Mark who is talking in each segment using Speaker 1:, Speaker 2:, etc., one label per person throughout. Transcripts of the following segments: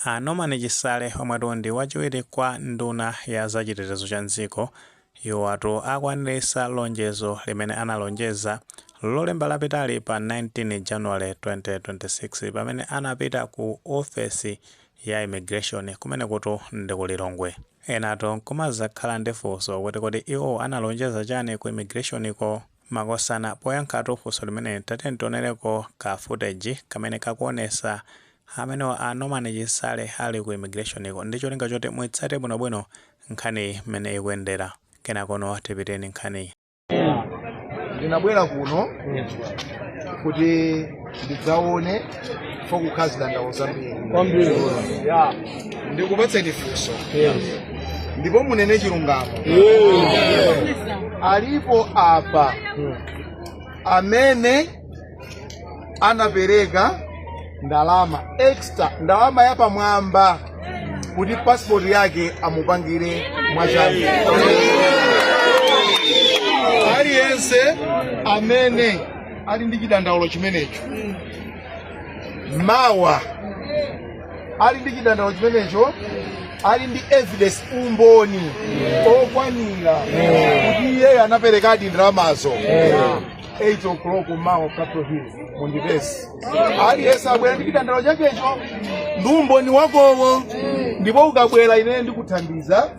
Speaker 1: A Norman Chisale omwetu ndi wachiwiri kwa nduna ya za chitetezo cha m'dziko iwowatu akwanilisa lonjezo limene analonjeza lolemba lapitali pa 19 January 2026 pamene anapita ku ofesi ya immigration kumenekutu ndi ku Lilongwe. Enatu nkumazakhala ndi funso kuti kodi iwo analonjeza chani ku immigration ko? Makosana poyankhatu funso limeneli tiyeni tionereko ka footage kamene kakuonesa amenewa a Norman Chisale ali ku immigration ko ndi cholinga choti muitsate bwino bwino nkhaniyi mmene ikuyendera kenakono tipiteni
Speaker 2: nkhaniyi. Ndinabwera kuno kuti ndidzaone. chifukwa zidandaulo zambiri kwambiri ya ndikufunseni funso yes ndipo munene chilungamo yes alipo apa amene anapereka ndalama extra ndalama yapamwamba kuti pasipoti yake amupangire mwachangu aliyense amene ali ndi chidandaulo chimenecho mawa ali ndi chidandaulo chimenecho ali ndi evidence umboni okwanira kuti iyeyo anaperekadi ndalamazo 8 o'clock mawa Capital Hill mundipeze aliyense abwere ndi chidandaulo chakecho ndi umboni wakowo ndipo ukabwera ineyo ndikuthandiza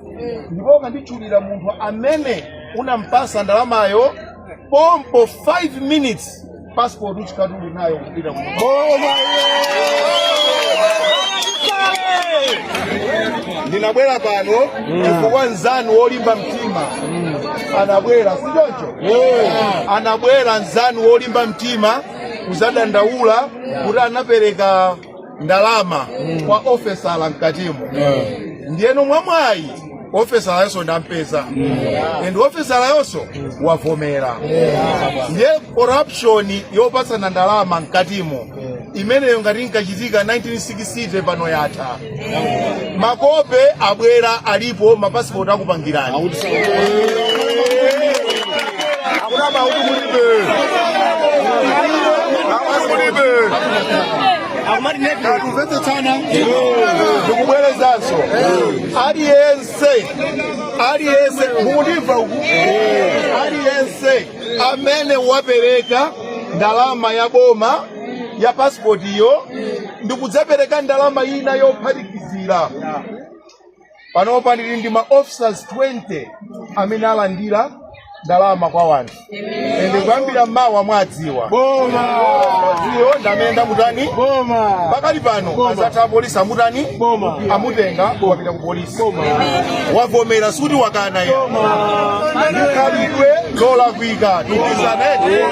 Speaker 2: ndipo ukanditchulira munthu amene unampasa ndalamayo pompo 5 minutes passport uzikati uli nayo kupita kuno. ndinabwera pano chifukwa mnzanu wolimba mtima anabwera si choncho anabwera mnzanu wolimba mtima kuzadandaula kuti anapereka ndalama kwa ofesala mkatimo ndiyeno mwamwayi ofesalayonso ndampeza and ofesalayonso wavomera ndiye corruption yopatsana ndalama mkatimo imeneyo ngati inkachitika 1960 pano yatha Makope abwera alipo mapasipoti akupangirani. Akuna maudu mulibe. Maudu mulibe. Tikumvetsetsana. Ndikubwerezanso. Aliyense. Aliyense. Mukundimva uku. Aliyense amene wapereka ndalama ya boma ya pasipoti iyo ndikudzapereka ndalama ina yophatikizira panopa ndili ndi ma officers 20 amene alandira ndalama kwa wanthu ende kuyambira mawa mwadziwa iyo ndimene ndamutani pakali pano adzatha apolisi amutani amutenga wapita ku polisi wavomera suti wakana iyo ndikhalidwe lolakwika tikizaneti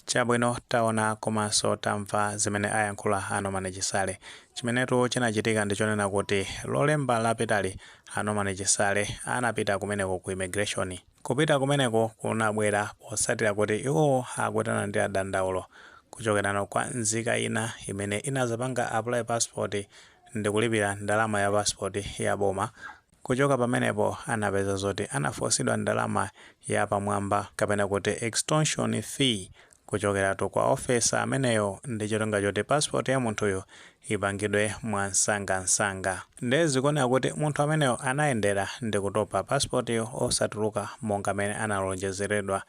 Speaker 2: chabwino
Speaker 1: Taona komanso tamva zimene ayankhula a Norman Chisale. Chimenetu chinachitika ndi chonena kuti Lolemba lapitali a Norman Chisale anapita kumeneko ku immigration. Kupita kumeneko kunabwera potsatira kuti iwowo akuti analandira dandaulo kuchokerano kwa nzika ina imene inadzapanga apply passport ndikulipira ndalama ya passport ya boma, Kuchoka pamenepo anapeza zoti anafosidwa ndalama ya pamwamba kapena kuti extortion fee kuchokeratu kwa officer ameneyo ndi cholinga choti passport ya munthuyo ipangidwe mwa msangamsanga. Nde zikuoneka kuti munthu ameneyo anayendera ndikutopa passport yo osatuluka monga mene analonjezeredwa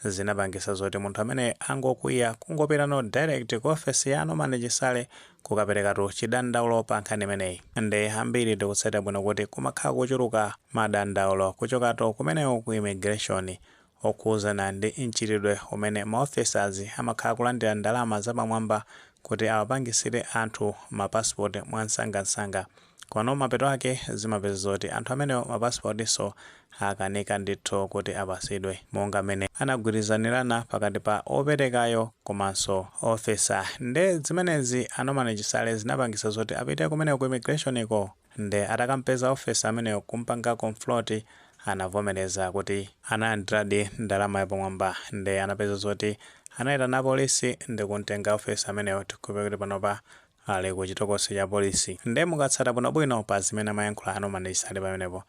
Speaker 1: zinapangisa zoti munthu ameneyu angokwiya kungopitano direct ku office ya Norman Chisale kukaperekatu chidandaulo pa nkhani imeneyi nde ambiri tikutsatira bwino kuti kumakhala kuchuluka madandaulo kuchokatu kumeneko ku immigration okhuzana ndi mchitidwe umene ma officers amakhala akulandira ndalama zapamwamba kuti awapangisire anthu ma passport mwamsangamsanga Komano mapeto ake zimapeza zoti anthu amenewo ma passport so akanika ndithu kuti apasidwe monga mene anagwirizanirana pakati pa operekayo komanso officer nde zimenezi a Norman Chisale zinapangisa zoti apite kumeneko ku immigration ko nde atakampeza officer ameneyo kumpanga confront anavomereza kuti analandiradi ndalama yapamwamba nde anapeza zoti anaitana apolisi ndikumtenga officer ameneyo tikhulupire kuti panopa Ali ku chitokosi cha polisi. Nde mukatsata bwinobwino pa zimene amayankhula a Norman Chisale pamenepo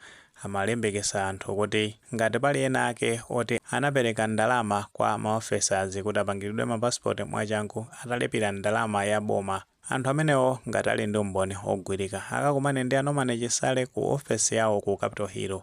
Speaker 1: amalimbikisa anthu kuti ngati pali ena ake oti anapereka ndalama kwa ma officers kuti apangiridwe ma passport mwachangu atalipira ndalama ya boma. Anthu amenewo ngati ali ndi umboni ogwirika akakumane ndi a Norman Chisale ku office yawo ku Capital Hill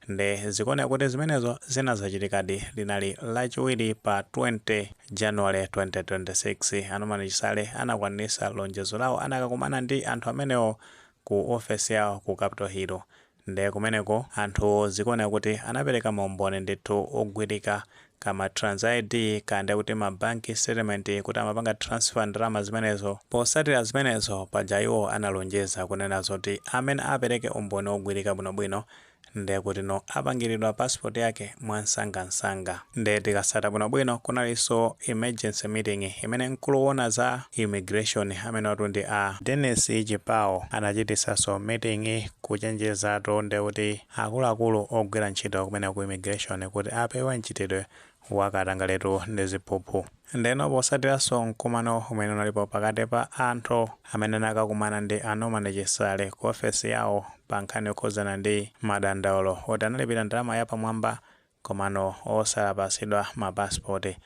Speaker 1: Nde zikuoneka kuti zimenezo zinazachitikadi linali lachiwiri pa 20 January 2026 a Norman Chisale anakwanisa lonjezo lawo anakakumana ndi anthu amenewo ku ofesi yawo ku capital hill nde kumeneko anthuwo zikuoneka kuti anapereka maumboni ndithu ogwirika ka ma trans ID ka ndekuti ma bank statement kuti amapanga transfer ndalama zimenezo posatira zimenezo paja iwo analonjeza kunena zoti amene apereke umboni ogwirika bwinobwino Nde kutino apangilidwa passport yake mwamsangamsanga. Nde tikasata bwinobwino kunalinso emergency meeting imene mkulu owona za immigration amenewatu ndi a Denis Chipawo anachitisaso meeting kuchenjezatu ndekuti akuluakulu ogwira ntchito kumene ku immigration kuti apewe mchitidwe wa katangaletu ndi ziphuphu ndeno posatiranso mkumano umene unalipo pakati pa anthu amene anakakumana ndi a Norman Chisale ku ofesi yawo pa nkhani yokhuzana ndi madandaulo oti analipira ndalama yapamwamba komano osapasidwa mapasipoti.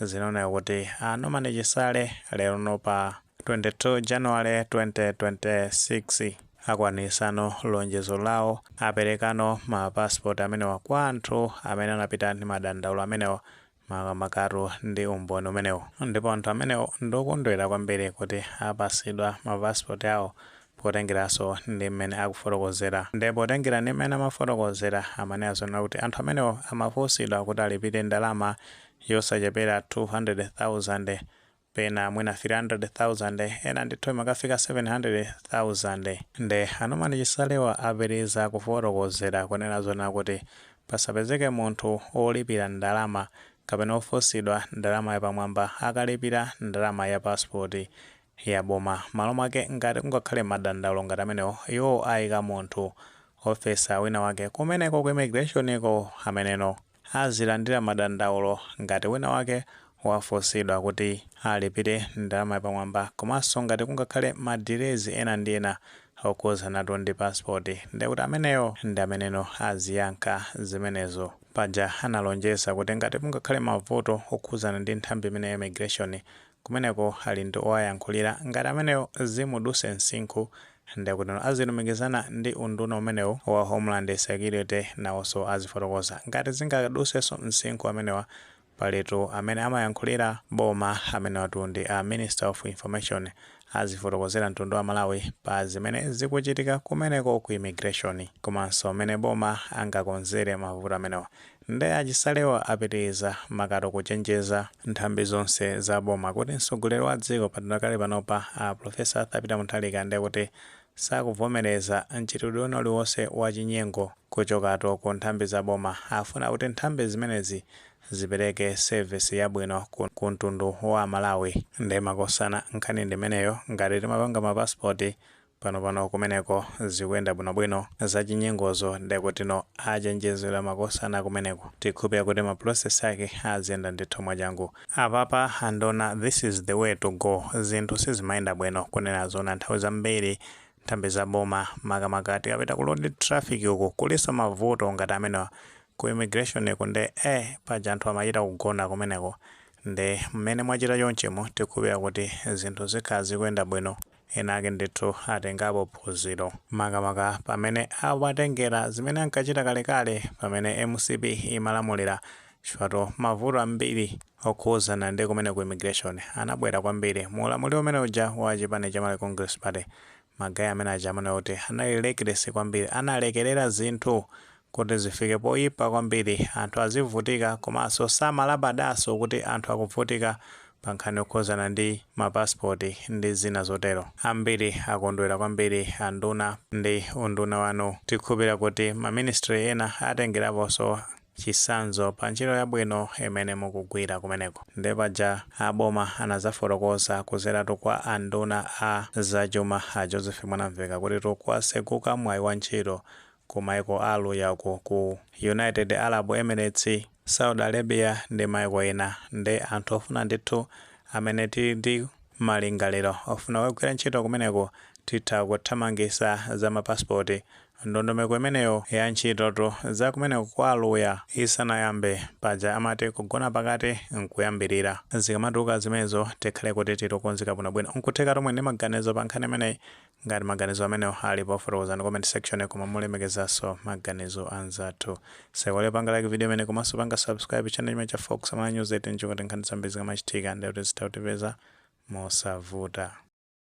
Speaker 1: Zinaoneka kuti a Norman Chisale lerono pa 22 January 2026, Akwanisano lonjezo lawo, aperekano ma passport amenewa kwa anthu amene anapita ndi madandaulo amenewo makamakatu ndi umboni umenewo ndipo anthu amenewo ndokondwera kwambiri kuti apasidwa ma passport awo potengeranso ndi mmene akufotokozera nde potengera ndi mmene amafotokozera amanena zoona kuti anthu amenewo amafunsidwa kuti alipire ndalama yosachepera 200,000 pena mwina 300,000 ena ndithu imakafika 700,000 nde a Norman Chisalewa apitiriza kufotokozera kunena zoona kuti pasapezeke munthu olipira ndalama kapena ofunsidwa ndalama yapamwamba akamalipira ndalama ya passport ya boma malo mwake ngati kungakhale madandaulo ngati amenewo iwo ayika munthu officer wina wake kumeneko ku immigration ko ameneno azilandira madandaulo ngati wina wake wafunsidwa kuti alipire ndalama yapamwamba komanso ngati kungakhale ma delays ena ndi ena okhuzanatu ndi passport ndiye kuti ameneyo ndi ameneno aziyankha zimenezo. Paja analonjeza kuti ngati kungakhale mavuto okhuzana ndi nthambi imeneyi ya immigration kumeneko ali ndi owayankhulira ngati ameneyo zimuduse msinkhu nde kutino azilumikizana ndi unduna umenewu wa homeland security nawonso azifotokoza ngati zingadusenso msinkhu amenewa palitu amene amayankhulira boma amenewatu ndi a minister of information azifotokozera mtundu wa Malawi pa zimene zikuchitika kumeneko ku immigration komanso mmene boma angakonzere mavuto amenewa Nde a Chisalewa apitiliza makatu kuchenjeza nthambi zonse za boma kuti mtsogoleri wa dziko padakali panopa a Professor Arthur Peter Mutharika ndekuti sakuvomeleza mchitidwe wina uliwonse wa chinyengo kuchokatu ku nthambi za boma. Afuna kuti nthambi zimenezi zipeleke service yabwino ku mtundu wa amalawi. Nde makosana nkhani ndimeneyo, ngati timapanga ma passport Pano pano kumeneko zikuyenda bwino bwino zachinyengozo nde kuti tinawachenjeza makosana kumeneko tikhupira kuti ma process ake aziyenda ndithu mwachangu apapa anduna this is the way to go zinthu sizimayenda bwino kunena zoona nthawi zambiri nthambi za boma makamaka tikapita ku road traffic uku kuliso mavuto ngati amenewa ku immigration ku nde eh paja anthu amachita kugona kumeneko nde mmene mwachita chonchimu tikhupira kuti zinthu zikhala zikuyenda bwino Enaake ndithu atengapo phunziro, makamaka pamene awatengera zimene ankachita kalekale pamene mcp imalamulira chifukwa mavuto ambiri okhuzana ndi kumene ku immigration anabwera kwambiri mu ulamuliro umene uja wa chipani cha Malawi Congress Party. Ma guys amene aja amaoneka kuti anali reckless kwambiri, analekerera zinthu Kuti zifike poyipa kwambiri, anthu azivutika komanso samalabadaso kuti anthu akuvutika pa nkhani yokhuzana ndi mapasipoti ndi zina zotero. Ambiri akondwera kwambiri anduna ndi unduna wanu. Tikhupira kuti ma ministry ena atengeraposo chisanzo pa ntchito yabwino imene mukugwira kumeneko. Nde paja a boma anazafotokoza kuzeratu kwa a nduna a za chuma a Joseph Mwanamveka kutitu kwatseguka mwayi wa ntchito ku maiko a aluya uku ku united arab emirates, saudi arabia ndi maiko ena nde anthu ofuna ndithu amene tili ndi malingaliro ofuna kukagwira ntchito kumeneko titha kuthamangisa za mapasipoti. Ndondomeko imeneyo ya ntchito tu za kumeneko kwa aluya isanayambe paja amati kugona pakati nkuyambirira. Zikamatuluka zimenezo tikhale kuti tili okonzeka bwinobwino. Nkuthekatu muli ndi maganizo pa nkhani imeneyi Ngati maganizo amenewo alipo fotokozani mu comment section koma molemekezaso maganizo anzathu. Osaiwala kupanga like video imeneyi komanso kupanga subscribe channel chimene cha Fox Malawi News 18 ndi kuti nkhani zambiri zikamachitika ndithu zizitha kutipeza mosavuta.